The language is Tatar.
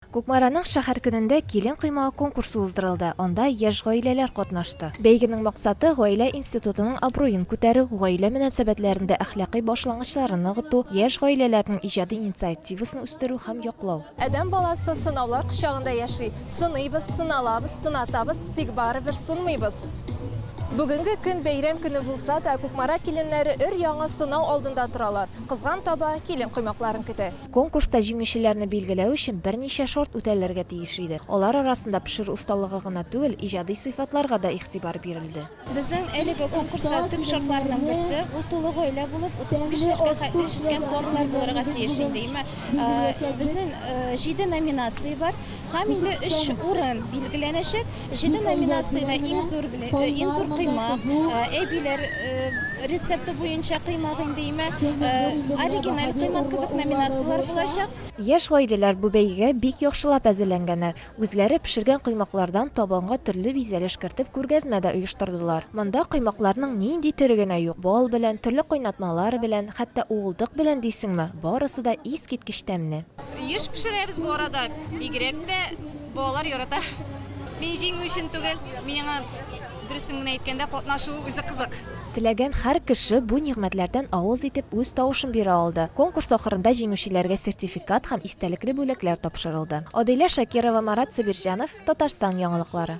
Кукмараның шәһәр көнендә килен коймагы конкурсы уздырылды, анда яшь гаиләләр катнашты. Бәйгенең максаты, гаилә институтының абруен күтәрү, гаилә мөнәсәбәтләрендә әхлакый башлангычларны ныгыту, яшь гаиләләрнең иҗади инициативасын үстерү һәм яклау. Адәм баласы сынаулар кочагында яши. Сыныйбыз, сыналабыз, сынатабыз, тик барыбер сынмыйбыз. Бүгенге көн бәйрәм көне булса да, Кукмара киленнәре өр-яңа сынау алдында торалар, кызган таба, килен коймакларын көтә. Конкурста җиңүчеләрне билгеләү өчен берничә шарт үтәлергә тиеш иде. Алар арасында пешерү осталыгы гына түгел, иҗади сыйфатларга да игътибар бирелде. Безнең әлеге конкурста төп шартларның берсе, ул тулы гаилә булып, 35 яшькә хәтле җиткән парлар булырга тиеш инде. Имә безнең җиде номинация бар һәм инде өч урын билгеләнәчәк. Җиде номинациядә иң зур беле, э, иң зур кыйма, э, әбиләр э, рецепты буенча кыймак инде имә, э, оригиналь кыймак кебек номинацияләр булачак. Яшь гаиләләр бу бәйгегә бик яхшылап әзерләнгәннәр. Үзләре пешергән кыймаклардан табынга төрле бизәлеш кертеп күргәзмә дә оештырдылар. Монда кыймакларның нинди төре генә юк, бал белән, төрле кайнатмалар белән, хәтта уылдык белән дисеңме, барысы да искиткеч тәмне. Еш пешерәбез бу арада, бигрәк тә Балалар ярата. Мин җиңү өчен түгел, миңа дөресен генә әйткәндә катнашу үзе кызык. Теләгән һәр кеше бу нигъмәтләрдән авыз итеп үз тавышын бирә алды. Конкурс ахырында җиңүчеләргә сертификат һәм истәлекле бүләкләр тапшырылды. Адилә Шакирова, Марат Сабирҗанов, Татарстан яңалыклары.